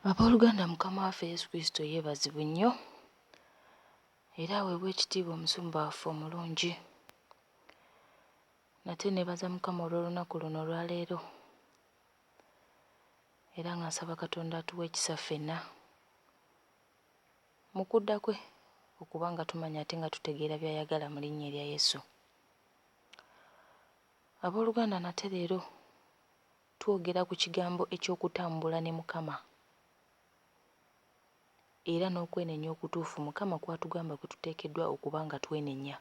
Abooluganda Mukama waffe Yesu Kristo yeebazibwe nnyo era aweebwe ekitiibwa omusumba waffe omulungi. Nate neebaza Mukama olw'olunaku luno olwaleero era nga nsaba Katonda atuwe ekisa ffenna mu kudda kwe okuba nga tumanya ate nga tutegeera by'ayagala mu linnya erya Yesu. Abooluganda nate leero Twogera ku kigambo eky'okutambula ne Mukama era n'okwenenya okutuufu Mukama kw'atugamba kwe tuteekeddwa okuba nga twenenya.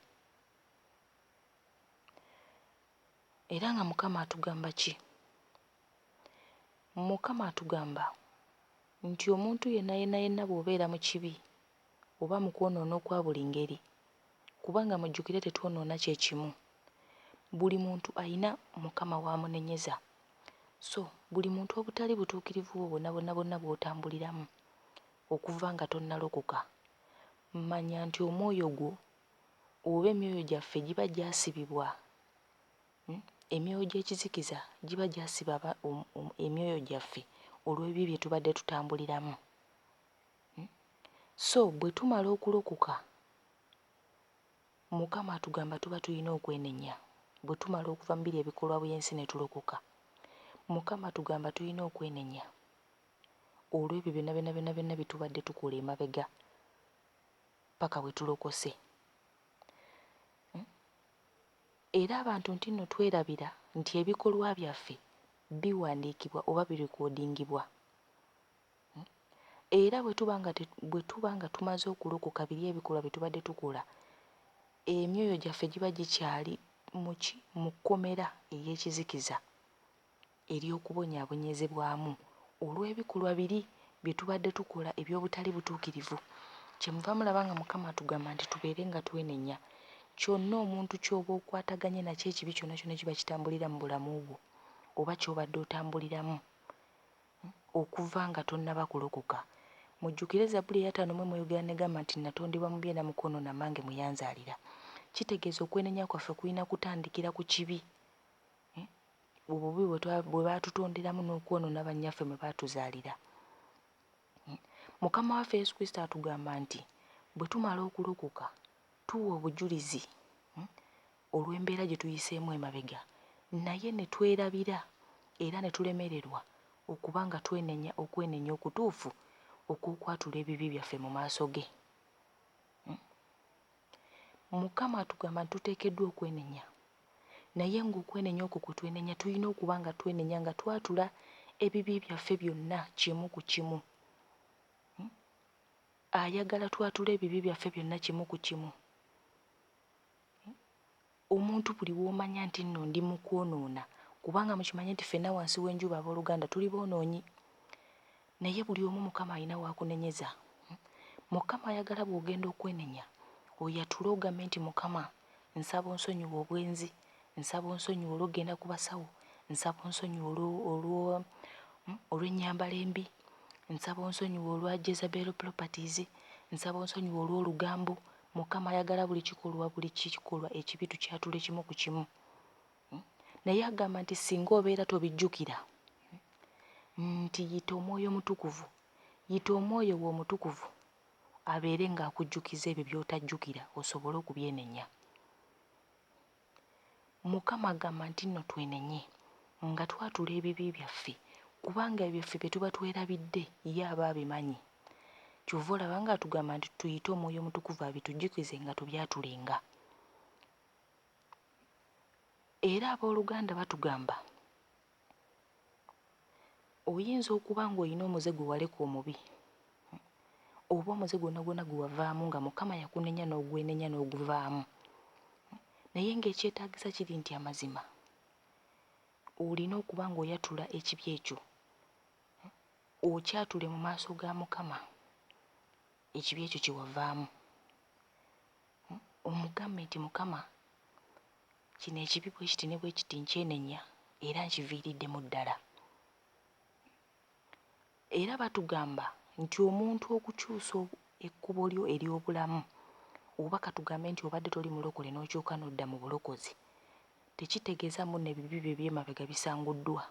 Era nga Mukama atugamba ki? Mukama atugamba nti omuntu yenna yenna yenna bw'obeera mu kibi oba mu kwonoona okwa buli ngeri, kubanga mujjukire tetwonoona kye kimu. Buli muntu alina Mukama w'amunenyeza. So, buli muntu obutali butuukirivu bwo bwonabwona bwonna bw'otambuliramu okuva nga tonnalokoka, manya nti omwoyo gwo oba emyoyo gyaffe giba gyasibibwa, emyoyo gy'ekizikiza giba gyasiba emyoyo gyaffe olw'ebibi bye tubadde tutambuliramu. So bwe tumala okulokoka, Mukama atugamba tuba tulina okwenenya. Bwe tumala okuva mu biri ebikolwa by'ensi ne tulokoka, Mukama atugamba tulina okwenenya olw'ebyo byonna byonna byonna byonna bye tubadde tukola emabega paka bwe tulokose. Hmm? Era abantu nti nno twerabira nti ebikolwa byaffe biwandiikibwa oba birikodingibwa. Era bwe tuba nga, bwe tuba nga tumaze okulokoka biri ebikolwa bye tubadde tukola, emyoyo gyaffe giba gikyali mu ki? Mu kkomera ey'ekizikiza ery'okubonyaabonyezebwamu olw'ebikolwa biri bye tubadde tukola eby'obutali butuukirivu. Kyemuva mulaba nga Mukama atugamba nti tubeere nga twenenya. Kyonna omuntu ky'oba okwataganye nakyo, ekibi kyonna kyonna ekiba kitambulira mu bulamu bwo, oba ky'obadde otambuliramu, Okuva nga tonnaba kulokoka. Mujjukire Zabbuli eyataano mu emu eyogera negamba nti Natondebwa mu bye na mukono na mange mwe yanzaalira. Kitegeeza okwenenya kwaffe kulina kutandikira ku kibi, obubi bwe baatutonderamu n'okwonoona bannyaffe mwe baatuzaalira. Mukama waffe Yesu Kristo atugamba nti bwe tumala okulokoka tuwa obujulizi. olw'embeera gye tuyiseemu emabega naye ne twerabira era ne tulemererwa okuba nga twenenya okwenenya okutuufu okw'okwatula ebibi byaffe mu maaso ge. Mukama atugamba nti tuteekeddwa okwenenya naye ng'okwenenya okwo kwe twenenya tulina okuba nga twenenya nga twatula ebibi byaffe byonna kimu ku kimu. Ayagala twatule ebibi byaffe byonna kimu ku kimu. Omuntu buli w'omanya nti nno ndi mu kwonoona kubanga mukimanye nti ffenna wansi w'enjuba abooluganda tuli boonoonyi naye buli omu Mukama alina w'akunenyeza. Mukama ayagala bw'ogenda okwenenya oyatule ogambe nti Mukama nsaba onsonyiwe obwenzi, nsaba onsonyiwe olw'okugenda ku basawo, nsaba onsonyiwe olwo olw'ennyambala embi, nsaba onsonyiwe olwa Jezebel properties, nsaba onsonyiwe olw'olugambo Mukama ayagala buli kikolwa buli kikolwa ekibi tukyatule kimu ku kimu. Naye agamba nti singa obeera tobijjukira nti yita omwoyo omutukuvu yita omwoyo we omutukuvu abeere ng'akujjukiza ebyo by'otajjukira osobole okubyenenya. Mukama agamba nti nno twenenye nga twatula ebibi byaffe kubanga ebyo ffe byetuba twerabidde ye aba abimanyi kyova olaba nga atugamba nti tuyite omwoyo omutukuvu abitujukize nga tubyatulenga era aboluganda batugamba oyinza okuba ng'olina omuze gwe waleka omubi oba omuze gwonna gwonna gwe wavaamu nga mukama yakunenya n'ogwenenya n'oguvaamu naye ng'ekyetaagisa kiri nti amazima olina okuba ng'oyatula ekibi ekyo okyatule mu maaso ga mukama ekibi ekyo kye wavaamu omugambe nti mukama Kino ekibi bwe kiti ne bwe kiti nkyenenya era nkiviiriddemu ddala. Era batugamba nti omuntu okukyusa ekkubo lyo ery'obulamu oba katugambe nti obadde toli mulokole n'okyuka n'odda mu bulokozi tekitegeeza mbuno ebibi byo eby'emabega bisanguddwa.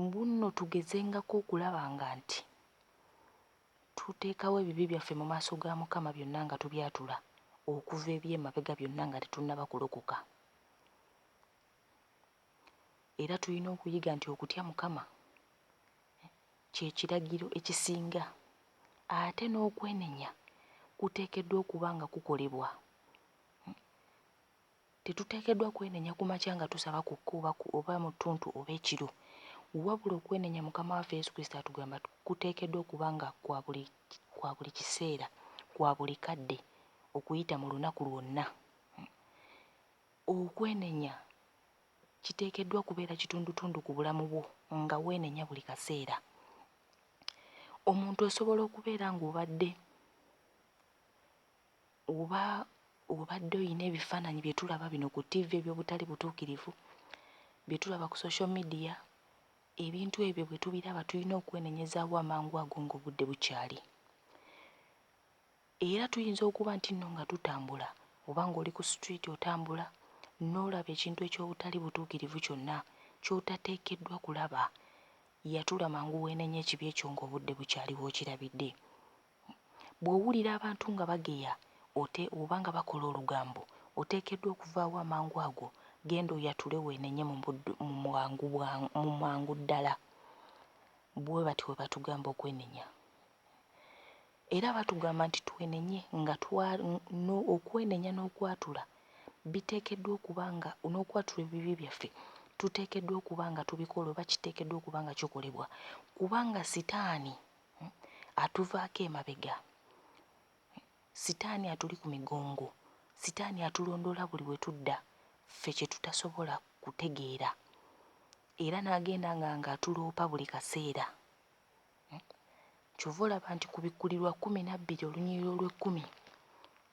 Mbu nno tugezengako okulaba nga nti. Tuteekawo ebibi byaffe mu maaso ga Mukama byonna nga tubyatula okuva eby'emabega byonna nga tetunnaba kulokoka. Era tulina okuyiga nti okutya Mukama kye kiragiro ekisinga ate n'okwenenya kuteekeddwa okuba nga kukolebwa Tetuteekeddwa kwenenya ku makya nga tusaba ku kkubo oba ku oba mu ttuntu oba ekiro. Wabula okwenenya Mukama waffe Yesu Kristo atugamba kuteekeddwa okuba nga kwa buli kwa buli kiseera, kwa buli kadde okuyita mu lunaku lwonna. Okwenenya kiteekeddwa kubeera kitundutundu ku bulamu bwo nga weenenya buli kaseera. Omuntu osobola okubeera ng'obadde Oba obadde olina ebifaananyi bye tulaba bino ku ttivi eby'obutali butuukirivu, bye tulaba ku social media, ebintu ebyo bwe tubiraba tulina okwenenyezaawo amangu ago ng'obudde bukyali. Era tuyinza okuba nti nno nga tutambula oba ng'oli ku situliiti otambula n'olaba ekintu eky'obutali butuukirivu kyonna ky'otateekeddwa kulaba, yatula mangu weenenye ekibi ekyo ng'obudde bukyali w'okirabidde. Bw'owulira abantu nga bageya ote oba nga bakola olugambo, oteekeddwa okuvaawo amangu ago, genda oyatule weenenye mu buddu mu bwangu bwa mu mangu ddala. Bwe batyo bwe batugamba okwenenya. Era batugamba nti twenenye nga twa no okwenenya n'okwatula biteekeddwa okuba nga n'okwatula ebibi byaffe tuteekeddwa okuba nga tubikola oba kiteekeddwa okuba nga kikolebwa kubanga sitaani hmm, atuvaako emabega sitaani atuli ku migongo sitaani atulondoola buli we tudda ffe kye tutasobola kutegeera era n'agenda nga ng'atuloopa buli kaseera hmm, kyova olaba nti ku bikkulirwa kkumi nabbiri olunyiriro olw'ekkumi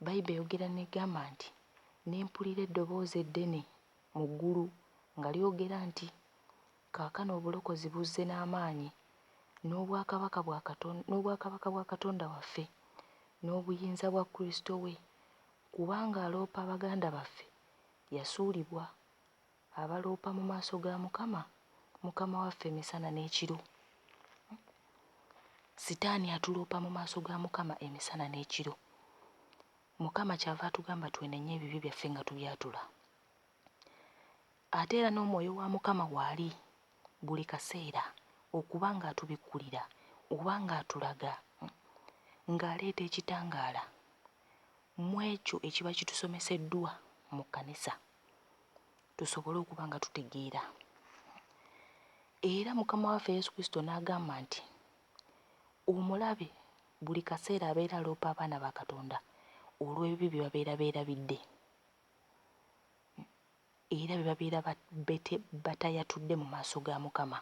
bayibe eyogera negamba nti nempulira eddoboozi eddene mu ggulu nga lyogera nti Kaakano obulokozi buzze n'amaanyi, n'obwakabaka bwa Katon, n'obwakabaka bwa Katonda waffe, n'obuyinza bwa Kristo we, kubanga aloopa baganda baffe yasuulibwa, abaloopa mu maaso ga Mukama, Mukama waffe emisana n'ekiro. Sitaani atuloopa mu maaso ga Mukama emisana n'ekiro. Mukama kyava atugamba twenenye ebibi byaffe nga tubyatula. Ate era n'Omwoyo wa Mukama waali buli kaseera okuba nga atubikkulira oba nga atulaga, nga aleeta ekitangaala mu ekyo ekiba kitusomeseddwa mu kkanisa, tusobole okuba nga tutegeera. Era Mukama waffe Yesu Kristo n'agamba nti, Omulabe buli kaseera abeera aloopa abaana ba Katonda olw'ebibi bye babeera beerabidde. Era bwe babeera bete batayatudde mu maaso ga Mukama.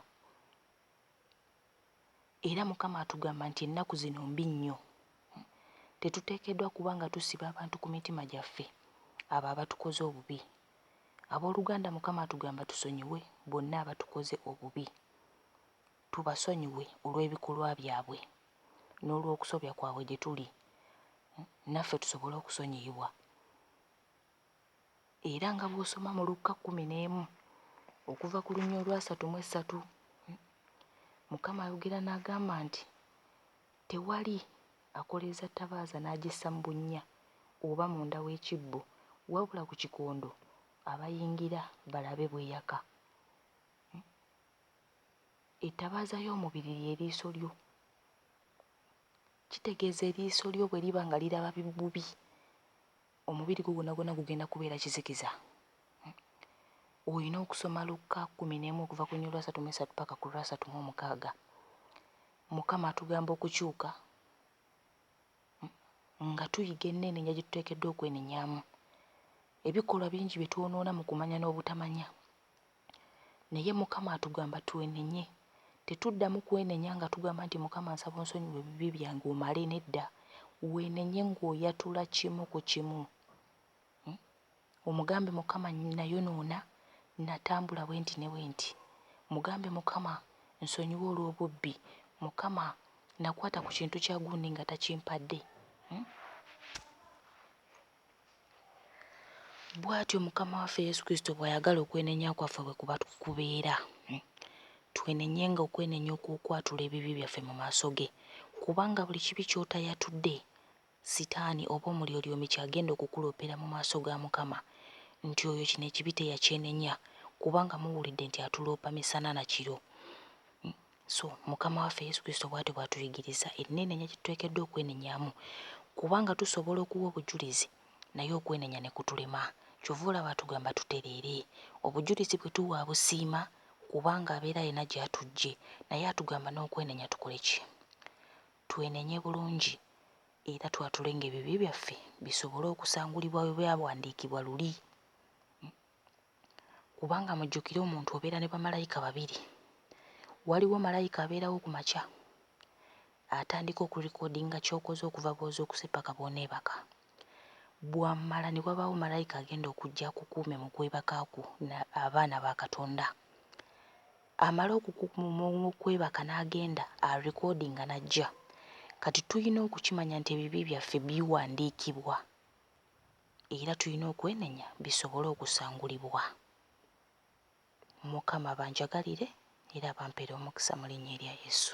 Era Mukama atugamba nti ennaku zino mbi nnyo. Tetuteekeddwa kuba nga tusiba abantu ku mitima gyaffe abo abatukoze obubi. Ab'oluganda Mukama atugamba tusonyiwe bonna abatukoze obubi. Tubasonyiwe olw'ebikolwa byabwe n'olw'okusobya kwabwe gye tuli naffe tusobole okusonyiyibwa. Era nga bw'osoma mu Lukka kkumi n'emu okuva ku lunya olwasatu mu essatu, Mukama ayogera n'agamba nti, Tewali akoleeza ttabaaza n'agissa mu bunnya oba munda w'ekibbo, wabula ku kikondo abayingira balabe bw'eyaka. Ettabaaza y'omubiri lye liiso lyo. Kitegeeza eriiso lyo bwe liba nga liraba bubi Omubiri gwo gwonagwona gugenda kubeera kizikiza. Olina okusoma Lukka kkumi n'emu okuva ku luny. Olwasatu mu esatu paka ku lwasatu mu omukaaga. Mukama atugamba okukyuka nga tuyiga eneenenya gye tuteekeddwa okwenenyaamu. Ebikolwa bingi bye twonoona mu kumanya n'obutamanya. Naye Mukama atugamba twenenye. Tetuddamu kwenenya nga tugamba nti Mukama nsaba onsonyiwe ebibi byange omale nedda. Wenenye ng'oyatula kimu ku kimu. Omugambe Mukama nayonoona, natambula bwenti ne bwenti. Mugambe Mukama nsonyiwa olw'obubbi. Mukama nakwata ku kintu kya gundi nga takimpadde. Bw'atyo Mukama waffe Yesu Kristo bw'ayagala okwenenya kwaffe bwe kuba kubeera. Hmm. Twenenye nga okwenenya okw'okwatula ebibi byaffe mu maaso ge, kubanga buli kibi ky'otayatudde, Sitaani oba Omulyolyomi ky'agenda okukuloopera mu maaso ga Mukama, nti oyo kino ekibi teyakyenenya, kubanga muwulidde nti atuloopa misana na kiro. Hmm. So Mukama waffe Yesu Kristo bwatyo bwatuyigiriza ennenenya gyetuteekeddwa okwenenyamu kubanga tusobola okuwa obujulizi naye okwenenya nekutulema kyova olaba atugamba tutereere obujulizi bwetuwa abusiima kubanga abeera alina gyatujje naye atugamba n'okwenenya tukole ki? Twenenye bulungi era twatulenga ebibi byaffe bisobole okusangulibwa bwebyabwandiikibwa luli. kubanga mujjukire omuntu obeera ne bamalayika babiri, waliwo malayika abeerawo ku makya atandika okulikodinga ky'okoze okuva bw'ozuukuse ppaka bw'oneebaka, bw'amala ne wabaawo malayika agenda okujja akukuume mu kwebaka kwo na abaana ba Katonda, amala okukukuuma mu kwebaka n'agenda alikodinga n'ajja, kati tulina okukimanya nti ebibi byaffe biwandiikibwa. Era tulina okwenenya bisobole okusangulibwa. Mukama abanjagalire era abampere omukisa mu linnya erya Yesu.